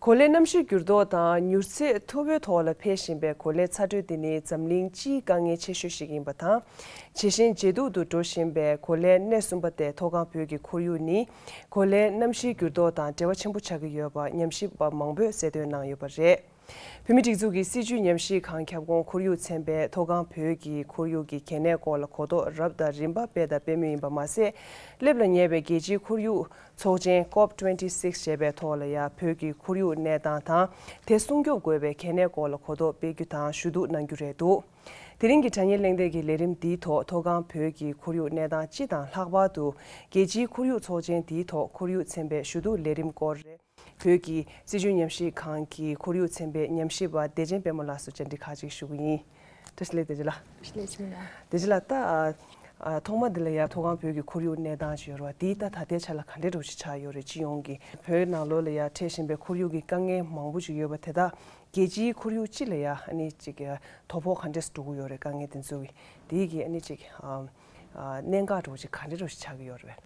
གོ་ལའི་གནམ་གཤིས་འགྱུར་ལྡོག་དང་མྱུར་ཚད་མཐོ་པོའི་ཐོག་ལ་འཕེལ་བཞིན་པའི་གོ་ལའི་ཚ་དྲོད་དེ་ནི་འཛམ་གླིང་སྤྱིའི་དཀའ་ངལ་ཆེ་ཤོས་ཤིག་ཡིན་པ་དང། ཇེ་ཞན་ཇེ་སྡུག་ཏུ་འགྲོ་བཞིན་པའི་གོ་ལའི་གནས་གསུམ་པ་སྟེ་མཐོ་སྒང་བོད་ཀྱི་ཁོར་ཡུག་ནི་གོ་ལའི་གནམ་གཤིས་འགྱུར་ལྡོག་དང་འབྲེལ་བ་ཆེན་པོ་ཆགས་ཀྱི་ཡོད་པ་ཉམས་ཞིབ་པ་མང་པོས་གསལ་སྟོན་གནང་ཡོད་པ་རེད། བོད་མིའི་སྒྲིག་འཛུགས་ཀྱི་སྲིད་བྱུས་ཉམས་ཞིབ་ཁང་ཁྱབ་ཁོངས་ཁོར་ཡུག་ཚན་པས་མཐོ་སྒང་བོད་ཀྱི་ཁོར་ཡུག་གི་གལ་གནད་སྐོར་ལ་གོ་རྟོགས་རབ་དང་རིམ་པ་སྤེལ་དང་སྤེལ་མུས་ཡིན་པ་མ་ཟད། སླེབས་ལ་ཉེ་བའི་རྒྱལ་སྤྱིའི་ཁོར་ཡུག་ཚོགས་ཆེན Cop twenty six ཞེས་པའི་ཐོག་ལ་ཡང་བོད་ཀྱི་ཁོར་ཡུག་གནས་སྟངས་དང་དེ་སྲུང་སྐྱོབ་དགོས་པའི་གལ་གནད་སྐོར་ལ་གོ་རྟོགས་སྤེལ་རྒྱུ་དང་ཞུ་གཏུག་གནང་རྒྱུ་རེད་འདུག་དེ་རིང་གི་དྲ་བརྙན་གླེང་སྟེགས་ཀྱི་ལས་རིམ་འདིའི་ཐོག་མཐོ་སྒང་བོད་ཀྱི་ཁོར་ཡུག་གནས་སྟངས་སྤྱི་དང་ལྷག་པར་དུ་རྒྱལ་སྤྱིའི་ཁོར་ཡུག་ཚོགས་ཆེན་དེའི་ཐོག་ཁོར་ཡུག་ཚན་པའི་ཞུ་གཏུག་ལས་རིམ་སྐོར་རེད། བོད་ཀྱི་སྲིད་བྱུས་ཉམས་ཞིབ་ཁང་གི་ཁོར་ཡུག་ཚན་པའི་ཉམས་ཞིབ་པ་བདེ་ཆེན་དཔལ་མོ་ལགས་སུ་བཅར་འདྲི་ཁག་ཅིག་ཞུ་གི་ཡིན། བཀྲ་ཤིས་བདེ་ལེགས། བཀྲ་ཤིས་བདེ་ལེགས། བདེ་ཆེན་ལགས། ད། ཐོག་མ་འདི་ལ་ཡར་མཐོ་སྒང་བོད་ཀྱི་ཁོར་ཡུག་གནས་སྟངས་ཅི་ཡོད་རེད་བ། དེའི་སྟབས་ད་ལྟའི་ཆ་ལ་ག་འདྲའི་འགྲོ་གཞི་ཆགས་ཡོད་རེད་སྤྱི་ཡོངས་ཀྱི་བོད་ནང་ལོ་ལ་ཡར་འཕྲད་བཞིན་པའི་ཁོར་ཡུག་གི་དཀའ་ངལ་མང་པོ་ཅིག་ཡོད་པ་དེ་དག་རྒྱལ་སྤྱིའི་ཁོར་ཡུག་སྤྱི་ལ་ཡར་ནི་ཅིག་དོ་ཕོག་ག་འདྲས་འགྲོ་གི་ཡོད་རེད་དཀའ་ངལ་དེ་ཚོ་གི་དེའི་གི་ནི་ཅིག་གནད་འགག་འགྲོ་གཞི་ག་འདྲའི་འགྲོ་གཞི་ཆགས་ཀྱི་ཡོད་རེད་བས།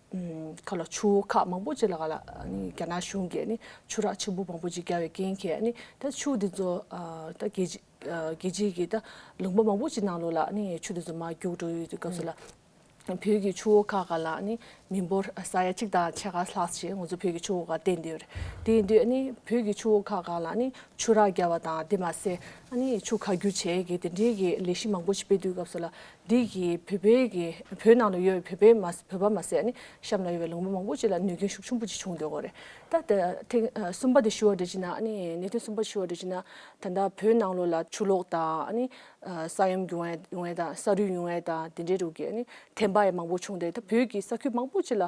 ཁ་ལ་ཆུ་བོ་ཁག་མང་པོ་ཅིག་ལ་ག་ལ་རྒྱ་ནག་གཞུང་གིས་ནི་ཆུ་རགས་ཆེན་པོ་མང་པོ་ཅིག་བརྒྱབ་བའི་རྐྱེན་གྱིས་ནི་ད་ཆུ་དེ་ཚོ་ད་རྒྱལ་རྒྱལ་སྤྱིའི་གི་ད་ལུང་པ་མང་པོ་ཅིག་ནང་ལོགས་ལ་ནི་ཆུ་དེ་ཚོ་མ་རྒྱུག་འགྲོ་ཡོད་སྐབས་སུ་ལ་བོད་ཀྱི་ཆུ་བོ་ཁག་ག་ལ་ནི་མི་འབོར་ས་ཡ་གཅིག་དང་ཕྱེད་ཀ་ལྷག་ཅིག་ང་ཚོ་བོད་ཀྱི་ཆུ་བོ་ཁག་བསྟན་དུས་དེ་དུས་ནི་བོད་ཀྱི་ཆུ་བོ་ཁག་ག་ལ་ནི་ཆུ་རགས་བརྒྱབ་པ་དང་དེ་མ་ཟད་ནི་ཆུ་ཁ་རྒྱུག་བྱེད་ཀྱི་དེ་འདྲིའི་གི་ལས་གཞི་མང་པོ་ཅིག་སྤེལ་དུས་སྐབས་སུ་ལ་འདི་གི་བོད་པའི་གི་བོད་ནང་ལ་ཡོད་པའི་བོད་པའི་མ་བོད་པ་མ་ཟད་ནི་གཤམ་ལ་ཡོད་པའི་ལུང་པ་མང་པོ་ཅིག་ལ་གནོད་སྐྱོན་ཤུགས་ཆུང་པོ་ཅིག་བྱུང་འདུག་གོ་རེད་ད། དེ་ཐེངས་གསུམ་པ་དེ་ཞུ་བ་འདྲི་ཅི་ན་ཨ་ནི་གནད་དོན་གསུམ་པ་ཞུ་བ་འདྲི་ཅི་ན། ད་ལྟ་བོད་ནང་ལོ་ལ་ཆུ་ལོག་དང་ཨ་ནི། ས་ཡོམ་གྱོང་ཡོད་ཡོང་ཡས་དང་ས་རུད་ཡོང་ཡས་དང་དེ་འདྲའི་དྲུག་གི་ཨ་ནི་དེ་འབའ་ཡས་མང་པོ་བྱུང་འདུག་ད་བོད་ཀྱི་ས་ཁུལ་མང་པོ་ཅིག་ལ།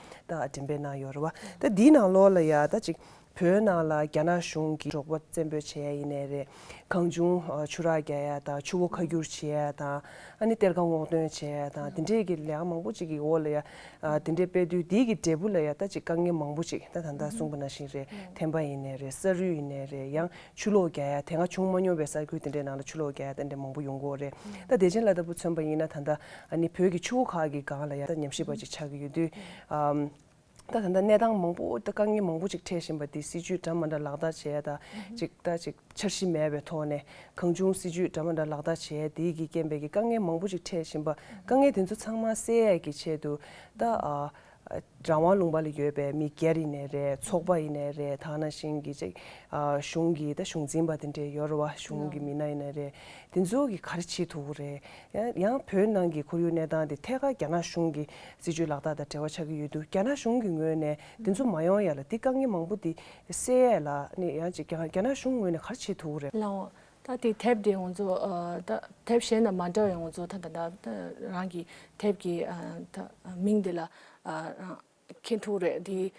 ད་དྲན་པའི་ནང་ཡོད་རེད་བ། ད་འདིའི་ནང་ལོགས་ལ་ཡང་ད་ཅིག་བོད་ནང་ལ་རྒྱ་ནག་གཞུང་གིས་འབྲོག་པ་བཙན་འབོད་བྱེད་ཡ་ཡིན་ནའི་རེད། གང་བྱུང་ཆུ་རགས་རྒྱག་ཡ་དང་ཆུ་བོ་ཁ་སྒྱུར་བྱེད་ཡ་དང་ཨ་ནི་གཏེར་ཁ་སྔོག་འདོན་བྱེད་ཡ་དང་དེ་འདྲས་ཀྱི་ལས་མང་པོ་ཅིག་གི་འོག་ལ་ཡ་དེ་འདྲས་སྤེལ་དུས་འདིའི་གི་འབྲས་བུ་ལ་ཡ་ད་ཅིག་དཀའ་ངལ་མང་པོ་ཅིག་ད་ད་ལྟ་གསུངས་པ་ན་བཞིན་རེད་ཐན་པ་ཡིན་ནའི་རེད་ས་རུད་ཡིན་ནའི་རེད་ཡང་ཆུ་ལོག་རྒྱག་ཡ་དེ་སྔ་བྱུང་མ་མྱོང་བའི་ས་ཁུལ་དེ་འདྲའི་ནང་ལ་ཆུ་ལོག་རྒྱག་ཡ་ཏན་ཏན་མང་པོ་ཡོང་གི་འོ་རེད་ད་བདེ་ཆེན་བླ་ལྟ་བུ་མཚོན་པ་ཡིན་ན་ད་ལྟ་ནི་བོད་ཀྱི་ཆུ་བོ་ཁག་གི་སྒང་ལ་ཡ་ད་ཉམས་ཞིབ་པ་ཅིག་ཆགས་ཀྱི་ཡོད་དུས་ད་ད་ལྟ་གནས་སྟངས་མང་པོ་དཀའ་ངལ་མང་པོ་ཅིག་འཕྲད་བཞིན་པ་དེ་སྲིད་ཇུས་འདྲ་མ་འདྲ་ལག་བསྟར་བྱས་ཡ་ད་ཅིག་ད་ཅིག་འཆར་གཞི་མེད་པའི་ཐོག་ནས་གང་བྱུང་སྲིད་ཇུས་འདྲ་མ་འདྲ་ལག་བསྟར་བྱས་ཡ་དེའི་གི་རྐྱེན་པས་གི་དཀའ་ངལ་མང་པོ་ཅིག་འཕྲད་བཞིན་པ་དཀའ་ངལ་དེ་ཚོ་ཚང་མ་སེལ་ཡ་གི་ཆེད་དུ་ད་རང་དབང་ལུང་པ་ལ་ཡོད་པའི་མི་སྒེར་ཡིན་ནས་རེད་ཚོགས་པ་ཡིན་ནས་རེད་ཐ་ན་ཞིང་གི་ཅིག་གཞུང་གི་ད་གཞུང་འཛིན་པ་དེ་འདྲའི་ཡོད་རེད་བ་གཞུང་གི་མི་སྣ་ཡིན་ནས་རེད་དེ་ཚོ་གི་ག་རེ་བྱེད་ཐུབ་ཀི་རེད་ཡང་བོད་ནང་གི་ཁོར་ཡུག་གནས་སྟངས་དེ་ཐད་ཀར་རྒྱ་ནག་གཞུང་གི་སྲིད་ཇུས་ལག་བསྟར་དང་བྲལ་བ་ཆགས་ཀི་ཡོད་དུས་རྒྱ་ནག་གཞུང་གི་ངོས་ནས་དེ་ཚོ་མ་ཡོང་ཡ་ལ་དེ་དཀའ་ངལ་མང་པོ་དེ་སེལ་ཡས་ལ་ནི་ཡང་ཅིག་རྒྱ་ནག་གཞུང་ངོས་ནས་ག་རེ་བྱེད་ཐུབ་ཀི་རེད། ལའོ། ད་ལྟའི་དེབ་དེ་ང་ཚོ་དེབ་གཞན་དང་མ་འདྲ་བའི་ང་ཚོ་ད་ལྟ་རང་གི་དེབ་ཀྱི་མིང་དེ་ལ་མཁན་ཐུག་རེད་དེ།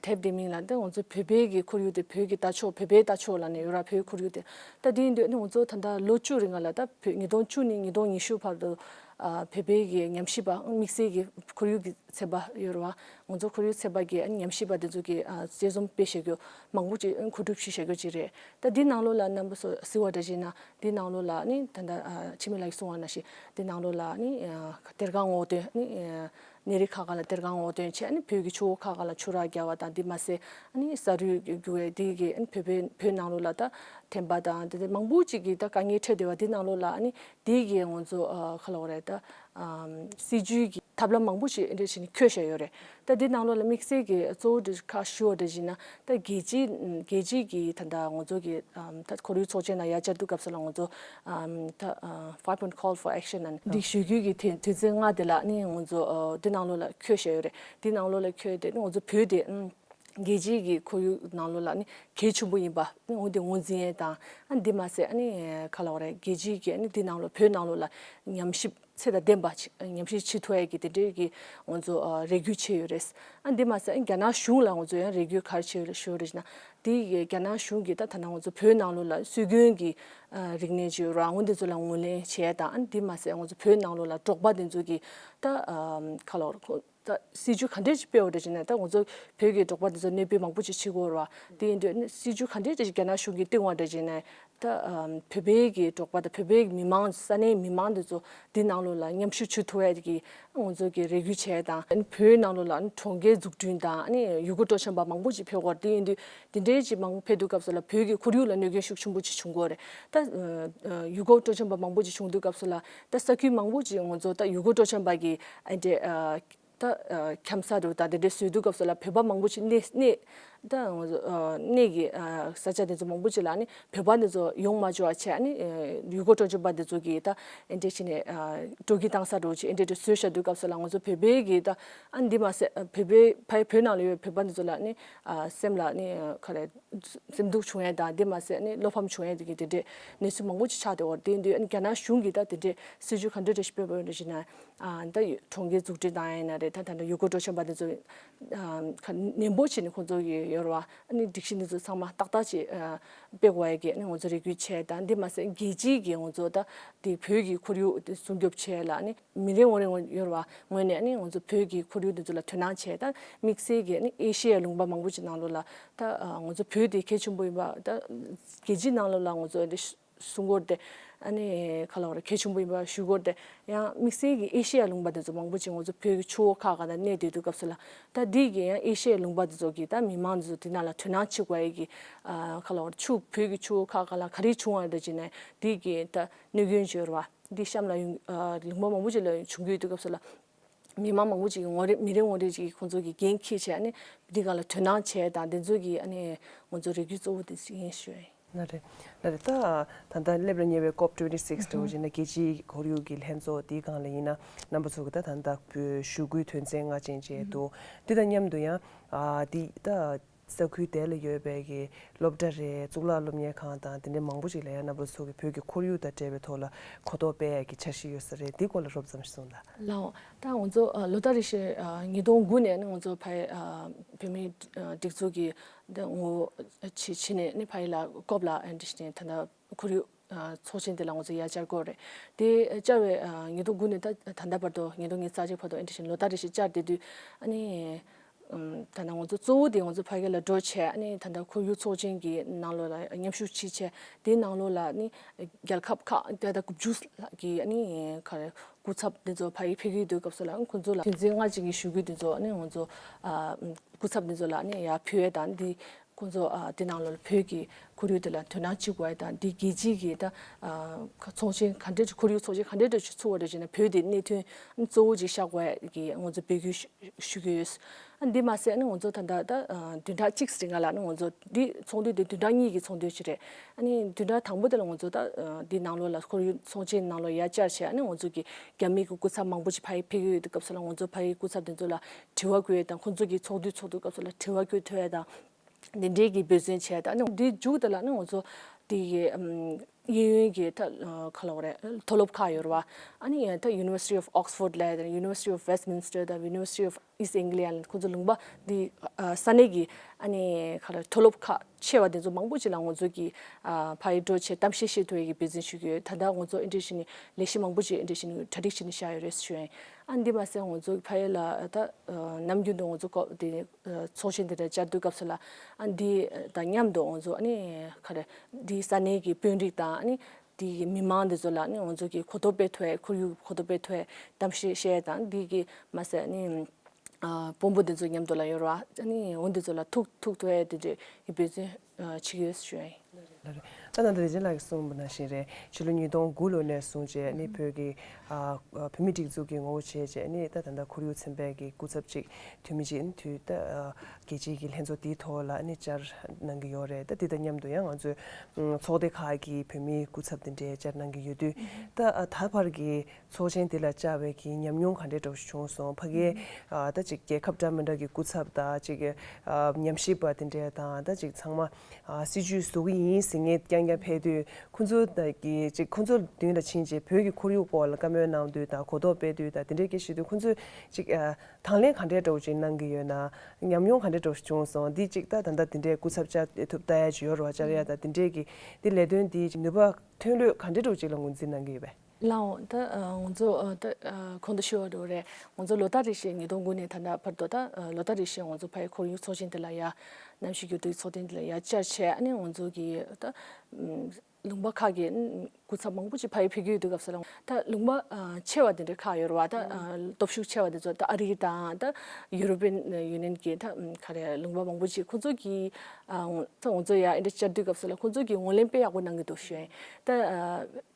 དེབ་དེ་མིང་ལ་ད་ལྟ་ང་ཚོ་བོད་པའི་གི་ཁོར་ཡུག་དེ་བོད་ཀྱི་ལྟ་ཕྱོགས་བོད་པའི་ལྟ་ཕྱོགས་ལ་ནི་ཡོད་ར་བོད་ཁོར་ཡུག་དེ་ད་ལྟ་དེ་འདོད་ནི་ང་ཚོ་ད་ལྟ་ལོ་བཅུ་རེ་ང་ལ་ད་བོད་ཉིས་སྟོང་བཅུ་ནས་ཉིས་སྟོང་ཉི་ཤུ་བར་དུ་བོད་པའི་གི་ཉམས་ཞིབ་པ་དམིགས་བསལ་གི་ཁོར་ཡུག་གི་ཚན་པ་ཡོད་ར་བ་ང་ཚོ་ཁོར་ཡུག་ཚན་པ་གི་ཉམས་ཞིབ་པ་དེ་ཚོ་གི་དཔྱད་རྩོམ་སྤེལ་བྱེད་རྒྱུ། མང་པོ་ཅིག་མཁོ་སྒྲུབ་ཞིག་བྱ་རྒྱུ་ཅིག་རེད་ད་འདི་ནང་ལོགས་ལ་རྣམ་པ་སོ་ཟི་བ་འདྲ་ཞིག་ན་འདི་ནང་ལོགས་ལ་ནི་ད་ལྟ་ཕྱི་མི་ལ་གསུང་བ་ན་ཞིག་འདི་ནང་ལོགས་ལ་ནི་གཏེར་ཁ་སྔོག་འདོན་ནི་གནས་རི་ཁག་ཁག་ལ་གཏེར་ཁ་སྔོག་འདོན་བྱས་ནི་བོད་ཀྱི་ཆུ་བོ་ཁག་ཁག་ལ་ཆུ་རགས་བརྒྱབ་བ་དང་དེ་མ་ཟད་ནི་ས་རུད་རྒྱུ་བའི་དེ་གི་བོད་པའི་བོད་ནང་ལོགས་ལ་ད་འཐེན་པ་དང་དེ་མང་པོ་ཅིག་གི་ད་དཀའ་ངལ་འཕྲད་བསྡད་བ་འདི་ནང་ལོགས་ལ་ནི་དེ་གི་ང་ཚོ་ཁ་ལོགས་རེད་ད་སྲིད་ཇུས་ཀྱི་ཐབས་ལམ་མང་པོ་ཅིག་འདི་བྱས་ནི་འཁྱོལ་བྱས་ཡོད་རེད་ད་འདི་ནང་ལོགས་ལ་དམིགས་བསལ་གྱི་གཙོ་བོ་འདི་ཁག་ཞུ་བ་འདྲ་བཞིན་ན་ད་རྒྱལ་སྤྱིའི་རྒྱལ་སྤྱིའི་གྱི་ད་ད་ངོ་ཚོ་གི་ད་ཁོར་ཡུག་ཚོགས་ཆེན་དང་ཡ་བསྐྱར་དུ་སྐབས་སུ་ལ་ངོ་ཚོ་ད Five Point Call for Action ན་ནི་འདི་ཞུ་རྒྱུའི་གྱི་དོན་དོན་ཚན་ལྔ་དེ་ལ་ནི་ངོ་ཚོ་འདི་ནང་ལོགས་ལ་ཁྱོད་བཤད་ཡོད་རེད་འདི་ནང་ལོགས་ལ་ཁྱོད་དེ་ནི་ངོ་ཚོ་བོད་དེ་རྒྱལ་སྤྱིའི་གྱི་ཁོར་ཡུག་ནང་ལོགས་ལ་ནི་གལ་ཆེན་པོ་ཡིན་པ་ནི་འོན་ཏེ་ངོས་འཛིན་ཡས་དང་ཨ་འདི་མ་ཟད་ཨ་ནི་ག་ལ་བ་རེད་རྒྱལ་སྤྱིའི་གྱི་ཨ་ནི་འདི་ནང་ལོགས་བོད་ནང་ལོགས་ལ་ཉམས་ཞིབ། ཚད་དང་ལྡན་པ་ཉམས་ཞིབ་ཆེས་མཐོ་ཡག་གི་དེ་འབྲེལ་གྱི་ང་ཚོ་རེ་སྒུག་བྱས་ཡོད་རེད། ཨ་འདི་མ་ཟད་རྒྱ་ནག་གཞུང་ལ་ང་ཚོ་ཡང་རེ་སྒུག་ག་རེ་བྱས་ཡོད་ཞུ་རེ་ན། དེ་རྒྱ་ནག་གཞུང་གིས་ད་ཐ་ན་ང་ཚོ་བོད་ནང་ལོ་ལ་སྲོལ་རྒྱུན་གྱི་རིག་གནས་ཇོ་ར་ངོ་འདི་ཚོ་ལ་ངོས་ལེན་བྱས་དང་ཨ་འདི་མ་ཟད་ང་ཚོ་བོད་ནང་ལོ་ལ་འབྲོག་པ་དེ་ཚོ་གི་ད་ཁ་ལོ་ད་སྲིད་ཇུས་ག་འདྲས་ཅིག་སྤེལ་བ་རེད་ཅེ་ན་ད་ང་ཚོ་བོད་ཀྱི་འབྲོག་པ་འདི་ཚོ་གནས་སྤོས་མང་པོ་ཅིག་བྱེད་དགོས་ར་བ་དེ་ཡིན་དུས་སྲིད་ཇུས་ག་འདྲས་ཅིག་རྒྱ་ནག་གཞུང་གིས་བཏིང་བ་རེད་ཅེ་ན། ད་བོད་པའི་གི་འབྲོག་པ་དང་བོད་པའི་མི་དམངས་ས་གནས་མི་དམངས་འདི་ཚོ་འདི་ནང་ལོགས་ལ་མཉམ་ཞུགས་བྱུ་ཐུབ་བས་ཀྱི་ང་ཚོ་གི་རེ་སྒུག་བྱས་དང། ཨ་ནི་བོད་ནང་ལོགས་ལ་ཨ་ནི་གྲོང་ཁྱེར་འཛུགས་སྐྲུན་དང་ཨ་ནི་ཡུལ་སྐོར་སྤྲོ་འཆམ་པ་མང་པོ་ཅིག་ཕེབས་དགོས་ར་དེ་ཡིན་དུས་དེ་འདྲས་ཅིག་མང་པོ་ཕེབས་དུས་སྐབས་སུ་ལ་བོད་ཀྱི་ཁོར་ཡུག་ལ་གནོད་སྐྱོན་ཤུགས་ཆེན་པོ་ཅིག་བྱུང་དགོས་རེད་ད། ཡུལ་སྐོར་སྤྲོ་འཆམ་པ་མང་པོ་ཅིག་བྱུང་དུས་སྐབས་སུ་ལ་ད་ས་ཁུལ་མང་པོ་ཅིག་ངོ་ཚོ་ད་ཡུ་གུར་སྤྲོ་འཆམ་པ་གི་འདི་ད་འཁྱམ་ས་རུ་ད་དེ་འདྲའི་ཟོལ་བསྡུ་སྐབས་སུ་ལ་བོད་པ་མང་པོ་ཅིག་གནས་གནས་ད་ངོ་ཚོ་གནས་ཀྱི་ས་ཆ་དེ་ཚོ་མང་པོ་ཅིག་ལ་ནི་བོད་པ་འདི་ཚོ་ཡོང་མ་འཇུག་བ་ཆེ་ཨ་ནི་ཡུ་གུར་སྤྲོ་འཆམ་པ་འདི་ཚོ་གི་ད་ཨེ་འདྲས་བྱས་ནས་སྤྲོ་སྐྱིད་བཏང་ས་རུ་ཅིག་ཨེ་འདྲས་འདྲས་ཟོལ་བཞག་སྡུད་སྐབས་སུ་ལ་ངོ་ཚོ་བོད་པའི་གི་ད་ཨ་འདི་མ་ཟད་བོད་པའི་ཕ་ཡི་བོད་ནང་ལ་ཡོད་བོད་པ་འདི་ཚོ་ལ་ནི་སེམས་ལ་ནི་ཁ་རས། འཛེམ་དུག་བྱུང་ཡས་དང་དེ་མ་ཟད་ནི་བློ་ཕམ་བྱུང་ཡས་དགེ་དེ་འདྲས་གནས་ཚུལ་མང་པོ་ཅིག་ཆགས་ཏེ་འོར་དེ་འདུས་རྒྱ་ནག་གཞུང་གིས་ད་དེ་འདྲས་སྲིད་ཇུས་ག་འདྲ་འདྲ་ཞིག་སྤེལ་བ་ཡོད་འདྲ་ཞིག་ན་ད་གྲོང་ཁྱེར་འཛུགས་སྐྲུན་དང་ཡས་ན་རེ་ད་ད་ནས་ཡུལ་སྐོར་སྤྲོ་འཆམ་པ་འདི་ཚོ་ཁ་ནན་པོ་བྱས་ནས་ཁོང་ཚོ་གི་ཡོལ་བ་ནི་སྒྲིག་གཞི་འདི་ཚོ་ཚང་མ་ཏག་ཏག་ཅིག་སྤེལ་དགོས་ཡས་དགེ་ནི་ང་ཚོ་རེ་སྐུལ་བྱས་དང་དེ་མ་ཟད་རྒྱལ་སྤྱིའི་གི་ང་ཚོ་ད་དེ་བོད་ཀྱི་ཁོར་ཡུག་སྲུང་སྐྱོབ་བྱས་ལ་ནི། མི་རེ་ངོ་རེ་ངོ་ཡོར་བ་ངོས་ནས་ནི་ང་ཚོ་བོད་ཀྱི་ཁོར་ཡུག་འདི་ཚོ་ལ་དོན་སྣང་བྱས་ད་དམིགས་བསལ་གྱི་ནི་ཨེ་ཤེ་ཡའི་ལུང་པ་མང་པོ་ཅིག་ནང་ལོ་ལ་ད་ང་ཚོ་བོད་དེ་གལ་ཆེན་པོ་ཡིན་པ་ད་རྒྱལ་སྤྱིའི་ནང་ལོ་ལ་ང་ཚོ་འདི་སུ་སྒོར་དེ་ཨ་ནི་ག་ལ་བ་ར་གལ་ཆེན་པོ་ཡིན་པ་ཞུ་སྒོར་དེ་ཡང་དམིགས་བསལ་གྱི་ཨེ་ཤེ་ཡའི་ལུང་པ་འདི་ཚོ་མང་པོ་ཅིག་ང་ཚོ་བོད་ཀྱི་ཆུ་བོ་ཁ་ག་ན་གནས་སྡོད་དུ་སྐབས་སུ་ལ་ད་འདི་གི་ཡང་ཨེ་ཤེ་ཡའི་ལུང་པ་འདི་ཚོ་གི་ད་མི་མང་འདི་ཚོ་དེ་ན་ལ་དོན་སྣང་བྱེད་དགོས་ཨེ་གི་ག་ལ་བ་ར་ཆུ་བོད་ཀྱི་ཆུ་བོ་ཁ་ག་ལ་ག་རེ་བྱུང་བ་ར་འདི་ཅི་ནས་འདི་གི་ད་གནོད་སྐྱོན་བྱོས་ཡོར་བ། འདི་གཤམ་ལ་ཡོང་རིང་མོ་མང་པོ་ཅིག་ལ་བྱུང་རྒྱུ་ཡོད་དུས་སྐབས་སུ་ལ། མི་མང་མང་པོ་ཅིག་ངོ་རེ་མི་རེ་ངོ་རེ་ཅིག་ཁོང་ཚོ་གི་འགན་འཁྱེར་བྱས་ནས་འདི་ག་ལ་དོན་སྣང་བྱས་དང་དེ་ཚོ་གི་ཨ་ནི་ང་ཚོ་རེ་སྒུག་གཙོ་བོ་དེ་ཅིག་ཡིན་ཞུ་ཡ་ཡིན། ན་རེ། ན་རེ་ད། ད་ལྟ་སླེབས་ལ་ཉེ་བའི Cop twenty six དུ་བཞིན་ན་རྒྱལ་སྤྱིའི་ཁོར་ཡུག་གི་ལྷན་ཚོགས་དེའི་སྒང་ལ་ཡིན་ན་རྣམ་པ་ཚོ་གི་ད་ད་ནག་པོའི་ཞུ་སྐུལ་དོན་ཚན་ལྔ་ཅན་བཅས་འདུག་དེ་དང་མཉམ་དུ་ཡང། འདི་ད། ས་ཁུལ་དེ་ལ་ཡོད་པའི་གི་སློབ་གྲྭ་རེད་གཙུག་ལག་སློབ་གཉེར་ཁང་དང་དེ་འདྲའི་མང་པོ་ཞིག་ལ་ཡང་གནའ་བོའི་ཚོགས་ཀྱི་བོད་ཀྱི་ཁོར་ཡུག་དང་འབྲེལ་བའི་ཐོག་ལ་གོ་རྟོགས་སྤེལ་ཡས་ཀྱི་འཆར་གཞི་ཡོད་ས་རེད་འདི་སྐོར་ལ་རོབ་ཙམ་ཞིག་གསུངས་ལ། ལའོ། ད་ང་ཚོ་ལོ་ཟླ་རེ་ཞིག་ཉིས་སྟོང་དགུ་ནས་ནི་ང་ཚོ་ཕ་ཡི་བོད་མིའི་སྒྲིག་འཛུགས་ཀྱི་ངོ་བོ་ཇི་ཕྱི་ནས་ནི་ཕ་ཡི་ལ་སྐོབས་ལ་ཨེ་འདྲི་ཞེ་ན་དེ་འདྲ་ཁོར་ཡུག། ཚོགས་ཆེན་དེ་ལ་ང་ཚོས་ཡར་བཅར་དགོས་རེད། དེ་བཅར་བའི་ཉིན་ཐོ་དགུ་ནས་ད་ལྟ་བར་དུ་ཉིན་ཐོ་ངའི་རྩ་ཆེའི་ཕ་ཐོག་ཨེ་འབྲི་བཞིན་ལོ་ཟླ་རེ་བཞིན་བཅར་བསྡད་དུས། ཨ་ནི། ད་ནངས་ང་ཚོ་གཙོ་བོ་དེ་ང་ཚོ་ཕ་སྐད་ལ་འགྲོ་ཆེད་ཨ་ནི་ད་ལྟ་ཁོར་ཡུག་ཚོགས་ཆེན་གྱི་ནང་ལོགས་ལ་མཉམ་ཞུགས་བྱེད་ཆེད་དེའི་ནང་ལོགས་ལ་ཨ་ནི། རྒྱལ་ཁབ་ཁག་ཏག་ཏག་དགུ་བཅུ་ལྷག་གི་ཨ་ནི། སྐུ་ཚབ་དེ་ཚོ་ཕ་ཡུལ་ཕེབས་ཀྱི་འདུག་སྐབས་སུ་ལ་ཁོང་ཚོ་ལ། དོན་ཚན་ལྔ་ཅན་གྱི་ཞུ་སྐུལ་དེ་ཚོ་ཨ་ནི་ང་ཚོ། སྐུ་ཚབ་དེ་ཚོ་ལ་ཨ་ནི་ཡར་ཕུལ་བས་དང་དེ། ཁོ་ཚོ་དེ་ནང་ལ་བོད་ཀྱི་ཁོར་ཡུག་དེ་ལ་དོ་སྣང་བྱེད་དགོས་པ་དང་དེ་རྒྱལ་སྤྱིའི་གི་ད་ཚོགས་ཆེན་ག་འདྲའི་ཁོར་ཡུག་ཚོགས་ཆེན་ག་འདྲའི་ཁྲོད་ཆུ་ཚུགས་པ་རེད་ཅེ་ན་བོད་དེ་གནད་དོན་གཙོ་བོ་ཅིག་བཞག་དགོས་པ་གི་ང་ཚོ་འབོད་སྐུལ་ཞུ་གི་ཡོད། འདི་མ་ཟད་ང་ཚོ་ད་ལྟ་ད་བདུན་ཕྲག་གཅིག་ཟིན་ག་ལ་ང་ཚོ་འདི་ཚོགས་འདུ་དེ་བདུན་ཕྲག་གཉིས་ཀྱི་ཚོགས་འདུ་ཅིག་རེད། བདུན་ཕྲག་དང་པོ་དེ་ལ་ང་ཚོ་ད་འདི་ནང་ལོགས་ལ་ཁོར་ཡུག་ཚོགས་ཆེན་ནང་ལོགས་ཡར་བསྐྱར་བྱས་ང་ཚོ་གི་རྒྱ་མིའི་གི་སྐུ་ཚབ་མང་པོ་ཅིག་ཕ་ཡི་ཕེབས་ཡོད་སྐབས་སུ་ལ་ང་ཚོ་ཕ་ཡི་སྐུ་ཚབ་དེ་ཚོ་ལ་དྲི་བ་བཀོད་ཡོད་དང་ཁོང་ཚོ་གིས་ཚོགས་འདུའི་ཚོགས་དུས་སྐབས་སུ་ལ་དྲི་བ་བཀོད་ཐོས་ཡོད་དང། དེ་འབྲེལ་གྱི་འབོད་བརྩོན་བྱས་ཡོད་དང། དེའི་མཇུག་དེ་ལ་ནི་ང་ཚོ་དེ་གའི་གཡས་གཡོན་གྱི་ག་ལ་བ་རེད་མཐོ་སློབ་ཁག་ཡོད་རེད་བ། University of Oxford ལས་དང University of Westminster དང University of East Anglia ལས་ཁོང་ཚོ་ལུང་པ་དེ་ས་གནས་ཀྱི་ག་ལ་མཐོ་སློབ་ཁག་ཆེ་བ་དེ་ཚོ་མང་པོ་ཞིག་ལ་ང་ཚོ་གིས་ཕ་ཡི་འགྲོ་ཆེད་གཏམ་བཤད་བཤད་ཐོས་ཡོད་ཀྱི་འབོད་བརྩོན་ཞུ་གི་ཡོད་ད་ལྟ་ང་ཚོ་ཨེ་འགྲིག་བཞིན་ནི་ལས་གཞི་མང་པོ་ཞིག་ཨེ་འགྲིག་བཞིན་ནི་གྲ་སྒྲིག་བྱས་ནས་བཞག་ཡོད་རེད་ཟེར་ཞུ་ཡོད། ཨ་འདི་མ་ཟད་ངོ་ཚོ་ཕ་ཡུལ་ལ་ད་ནམ་རྒྱུན་དུ་ངོ་ཚོ་ཀོ་དེ་ཚོགས་ཆེན་དེ་འདྲ་བཅར་དུས་སྐབས་སུ་ལ་ཨ་འདི་དང་མཉམ་དུ་ངོ་ཚོ་ནི་ཁ་རེ་འདི་ས་གནས་ཀྱི་དཔོན་རིགས་དང་ནི་དེ་ཡི་མི་མང་འདི་ཚོ་ལ་ནི་ངོ་ཚོ་གི་གོ་ཐོབ་སྤེལ་ཐོས་ཁོར་ཡུག་གོ་ཐོབ་སྤེལ་ཐོས་གཏམ་བཤད་བཤད་དང་དེ་གི་མ་ཟད་ནི་དཔོན་པོ་འདི་ཚོ་མཉམ་དུ་ལ་ཡོད་ར་བ་ནི་འོ་འདི་ཚོ་ལ་ཐུག་ཐུག་ཐོས་དེ་འདྲས་ཡི་བུ་ཚོས་ཆིག་ཡོད་ཟེར་བྱུང། ད་ནང་ད་དེ་ཅན་ལགས་ཀྱིས་གསུངས་པ་ནང་བཞིན་རེད་ཕྱི་ལོ་ཉིས་སྟོང་དགུ་ལོ་ནས་བཟུང་རྗེས་ནི་བོད་ཀྱི་བོད་མི་སྒྲིག་འཛུགས་ཀྱི་ངོ་བོ་བྱས་རྗེས་ནི་ད་ད་ལྟ་ཁོར་ཡུག་ཚན་པས་ཀྱི་སྐུ་ཚབ་ཅིག་དུས་མི་ཅིག་དུས་ད་རྒྱལ་སྤྱིའི་ཀྱི་ལྷན་ཚོགས་དེའི་ཐོག་ལ་ནི་བཅར་གནང་གི་ཡོད་རེད་ད་དེ་དང་མཉམ་དུ་ཡང་ང་ཚོའི་ཚོགས་སྡེ་ཁག་གི་བོད་མིའི་སྐུ་ཚབ་དེ་འདྲས་བཅར་གནང་གི་ཡོད་དུས་ད་ད་བར་གྱི་ཚོགས་ཆེན་འདི་ལ་བཅར་བའི་གྱི་ཉམས་མྱོང་ག་འདྲའི་འགྲོགས་ཤིག་བྱུང་སོང་ཕ་གིའི་ད་ཅིག་རྒྱལ་ཁབ་འདྲ་མི་འདྲ་གི་སྐུ་ཚབ་དང་ཅིག་ཉམས་ཞིབ་པ་དེ་འདྲས་དང་ད་ཅིག་ཚང་མ་སྲིད་ཇུས་བཟོ་གི་ཡིན་ཟེར་ངེས་རྐྱང་རྐྱང་ཕེབས་དུས་ཁོང་ཚོ་གི་ཅིག་ཁོང་ཚོ་མདུན་ལ་ཕྱིན་རྗེས་བོད་ཀྱི་ཁོར་ཡུག་སྐོར་ལ་བཀའ་མོལ་གནང་དུས་དང་གོ་རྟོགས་སྤེལ་དུས་དང་དེ་འདྲས་ཀྱི་ཞིག་དུས་ཁོང་ཚོས་ཅིག་དང་ལེན་ག་འདྲའི་འགྲོགས་ཅིག་གནང་གི་ཡོད་ན་ཉམས་མྱོང་ག་འདྲའི་འགྲོགས་ཤིག་བྱུང་སོང་འདི་ཅིག་ད་ད་ལྟ་དེ་འདྲས་སྐུ་ཚབ་བཅར་ཐུབ་ད་ཡ་ཇི་ཡོར་བ་བཅར་ཡ་དང་དེ་འདྲས་ཀྱི་འདི་ལས་དོན་འདིའི་ནུས་པ་ཐོན་ལོས་ག་འདྲའི་འགྲོགས་ཅིག་ལ་ངོས་འཛིན་གནང་གི་ཡོད་པས། ལའོ། ད་ང་ཚོ་གོང་དུ་ཤི་བ་རུ་རེད། ང་ཚོ་ལོ་ལྟར་རེ་བཞིན་ཉིས་སྟོང་དགུ་ནས་ད་ལྟ་བར་དུ་ད་ལོ་ལྟར་རེ་བཞིན་ང་ཚོ་ཕའི་ཁོར་ཡུག་ཚོགས་ཆེན་དེ་ལ་ཡ། གནམ་གཤིས་འགྱུར་ལྡོག་གི་ཚོགས་ཐེངས་དེ་ལ་ཡ་བསྐྱར་བྱས་ཨ་ནི་ང་ཚོ་གི་ད། ལུང་པ་ཁག་གི་སྐུ་ཚབ་མང་པོ་ཅིག་ཕ་ཡུལ་ཕེབས་ཀྱི་ཡོད་དུས་སྐབས་སུ་རང་ད་ལུང་པ་ཆེ་བ་དེ་འདྲ་ཁག་ཡོད་རུང་བ་ད་སྟོབས་ཤུགས་ཆེ་བ་དེ་ཚོ་ད་ཨ་རི་དང་ད་ཡུ་རོབ་པེན་ཡུ་ནེན་གྱི་ད་ག་རེ་ལུང་པ་མང་པོ་ཅིག་ཁོ་ཚོ་གི། ད་ང་ཚོ་ཡ་འདྲ་བསྐྱར་དུས་སྐབས་སུ་ལ་ཁོ་ཚོ་གི་ངོས་ལེན་དཔེ་ཡག་པོ་གནང་གི་འདུག་བཞིན། ད།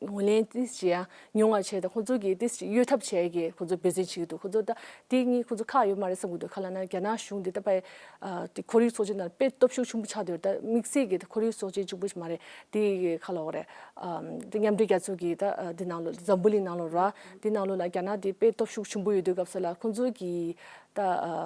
ངོས་ལེན་ཏིས་ཅི་ཡང་མྱོང་བར་བྱས་ཏེ་ཁོང་ཚོ་གིས་ཏིས་ཅི་གཡོལ་ཐབས་བྱས་གི་ཁོང་ཚོ་འབོད་ཚིག་བྱེད་ཀྱི་འདུག་ཁོང་ཚོ་ལྟ་དེ་གཉིས་ཁོང་ཚོ་ཁག་ཡོད་མ་རེད་བསམ་གྱི་འདུག་ག་ལ་ན་རྒྱ་ནག་གཞུང་འདི་ལྟ་བས། དེ་ཁོར་ཡུག་ཚོགས་ཆེན་ནང་དཔེ་སྟོབས་ཤུགས་ཆུང་པོ་ཆགས་འདོད་ད་དམིགས་བསལ་གྱི་ཁོར་ཡུག་ཚོགས་ཆེན་ཆུང་པོ་ཞིག་མ་རེད་དེ་གི་ཁ་ལོ་རེད། དེ་མཉམ་འབྲེལ་རྒྱལ་ཚོགས་ཀྱི་ད་དེ་ནང་ལོ་འཛམ་བུ་གླིང་ནང་ལོ་ར་དེ་ནང་ལོ་ན་རྒྱ་ནག་དེ་དཔེ་སྟོབས་ཤུགས་ཆུང་པོ་ཡོད་འདོད་སྐབས་སུ་ལ་ཁོང་ཚོ་གིས། ད་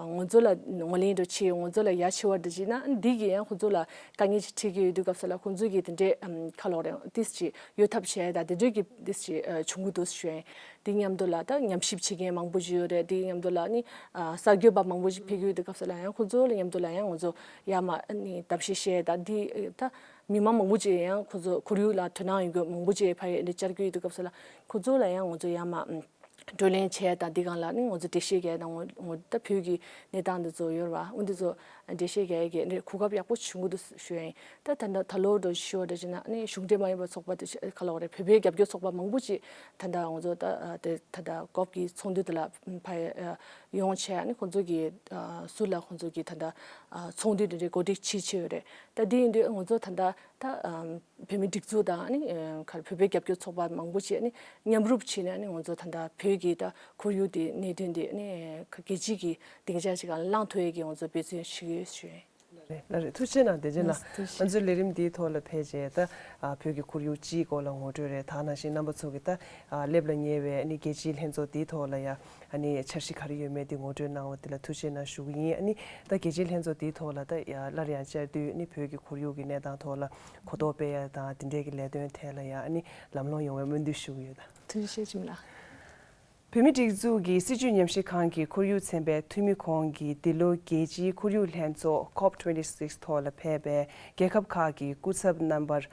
ངོ་ཚོ་ལ་ངོ་ལེན་འགྲོ་ཆེ་ཡོད་ངོ་ཚོ་ལ་ཡ་ཆེ་བར་འདི་བྱས་ན་འདི་གིས་ཡང་ཁོ་ཚོ་ལ་དཀའ་ངལ་ཅིག་འཕྲད་ཀྱི་ཡོད་དུས་སྐབས་སུ་ལ་ཁོང་ཚོ་གིས་དེ་འདྲའི་ཁ་ལོག་རེང་ཏིས་ཅིག་ཡོད་ཐབས་བྱས་ད་དེ་འདྲོད་ཀྱི་ཏིས་ཅིག་བྱུང་གི་འདུག་ཤོད་དེ་མཉམ་དུ་ལ་ད་ཉམས་ཞིབ་བྱེད་མཁན་མང་པོ་ཞིག་ཡོད་རེད་དེ་མཉམ་དུ་ལ་ནི་གསར་འགྱོད་པ་མང་པོ་ཞིག་འཕེལ་གྱི་ཡོད་དུས་སྐབས་སུ་ལ་ཡང་ཁོ་ཚོ་ལ་མཉམ་དུ་ལ་ཡང་ངོ་ཚོ་ཡ་མ་ནི་ད་བྱས་བྱས་ད་འདི་ད་མི་མང་མང་པོ་ཅིག་ཡང་ཁོ་ཚོ་ཁོར་ཡུག་ལ་དོ་སྣང་ཡོད་གི་མང་པོ་ཅིག་ཕ་ཡིས་འདི་བཅར་གྱི་ཡོད་དུས་སྐབས་སུ་ལ་ཁོ་ཚོ་ལ་ཡང་ངོ་ཚོ་ཡ་མ། བགྲོ་གླེང་བྱས་དང་འདི་གང་ལ་ནི་ངོ་ཚོ་འགྲེལ་བཤད་བྱས་དང་ངོ་ད་བོད་ཀྱི་གནས་སྟངས་འདི་ཚོ་ཡོར་བ་འུ་འདི་ཚོ་འགྲེལ་བཤད་བྱས་ཀྱི་ནི་གོ་སྐབས་ཡག་པོ་བྱུང་གི་འདུག་ཞོན་ད་ད་ད་ལོ་འགྲོ་བཞི་ཤོག་འགྲེལ་བྱས་ན་ནི་གཞུང་འབྲེལ་མ་ཡིན་པ་ཚོགས་པ་དེ་ག་ལ་བ་རེད་བོད་པའི་རྒྱབ་སྐྱོར་ཚོགས་པ་མང་པོ་ཅིག་ད་ད་ངོ་ཚོ་ད་དེ་ད་ད་གོབ་ཀྱི་ཚོགས་འདུ་དེ་ལ་ཕ་ཡ་ཡོང་བྱས་ནི་ཁོང་ཚོ་གི་སུ་ལ་ཁོང་ཚོ་གི་ད་ད་ཚོགས་འདུ་དེ་འདྲའི་གོ་སྒྲིག་བྱེད་ཆེ་ཡོ་རེད་ད་འདི་ཡིན་དུས་ངོ་ཚོ་ད་ད་ད། བོད་མིའི་སྒྲིག་འཛུགས་དང་བོད་པའི་རྒྱབ་སྐྱོར་ཚོགས་པ་མང་པོ་བཅས་མཉམ་རུབ་བྱས་ནས་ང་ཚོ་ད་ལྟ་བོད་ཀྱི་ཁོར་ཡུག་དེ་གནད་དོན་དེ་རྒྱལ་སྤྱི་ཀྱི་སྡིངས་ཆ་ཞིག་བླངས་ཐུབ་ཡས་ཀྱི་ང་ཚོ་འབད་བརྩོན་ཞུ་ཡོད་ཞུ་ཡོད། ལ་རེད་ཐུགས་ཆེ་གནང་བདེ་ཆེ་གནང་ང་ཚོའི་ལས་རིམ་དེའི་ཐོག་ལ་ཕེབས་རྗེས་ད་བོད་ཀྱི་ཁོར་ཡུག་སྤྱིའི་སྐོར་ལ་ངོ་སྤྲོད་རེ་ད་གནང་ཞིང་རྣམ་པ་ཚོ་གི་ད་སླེབས་ལ་ཉེ་བའི་རྒྱལ་སྤྱིའི་ལྷན་ཚོགས་དེའི་ཐོག་ལ་ཡང་ཨ་ནི་འཆར་གཞི་ག་རེ་ཡོད་མེད་དེ་ངོ་སྤྲོད་གནང་བ་དེ་ལ་ཐུགས་ཆེ་གནང་ཞུ་གི་ཡིན་ཨ་ནི་ད་གལ་ཆེའི་ལྷན་ཚོགས་དེའི་ཐོག་ལ་ད་སླར་ཡང་བཅར་དུས་ཨ་ནི་བོད་ཀྱི་ཁོར་ཡུག་གི་གནས་སྟངས་ཐོག་ལ་གོ་རྟོགས་སྤེལ་ཡ་དང་དེ་འདྲས་ཀྱི་ལས་དོན་ཐད་ལ་ཡང་ཨ་ནི་ལམ་ལྷོང་ཡོང་བའི་སྨོན་འདུན་ཞུ་གི་ཡོད། ཐུགས་རྗེ་ཆེ་ལགས། བོད་མི་སྒྲིག་འཛུགས་ཀྱི་སྲིད་བྱུས་ཉམས་བཞེས་ཁང་གི་ཁོར་ཡུག་ཚན་པའི་འཐུས་མི་ཁོང་གིས་འདི་ལོའི་རྒྱལ་སྤྱིའི་ཁོར་ཡུག་ལྷན་ཚོགས Cop twenty six ཐོག་ལ་ཕེབས་པའི་རྒྱལ་ཁབ་ཁག་གི་སྐུ་ཚབ་རྣམ་པར།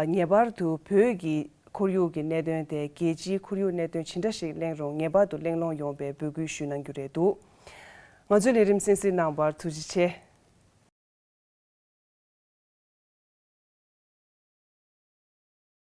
ངེས་པར་དུ་བོད་ཀྱི་ཁོར་ཡུག་གི་གནད་དོན་དེ་རྒྱལ་སྤྱིའི་ཁོར་ཡུག་གནད་དོན་ཇི་འདྲ་ཞིག་གླེང་རུང་ངེས་པར་དུ་གླེང་སློང་ཡོང་བའི་འབོད་སྐུལ་ཞུས་གནང་རྒྱུ་རེད་འདུག་ང་ཚོའི་ལས་རིམ་གསན་གཟིགས་གནང་བར་ཐུགས་རྗེ་ཆེ།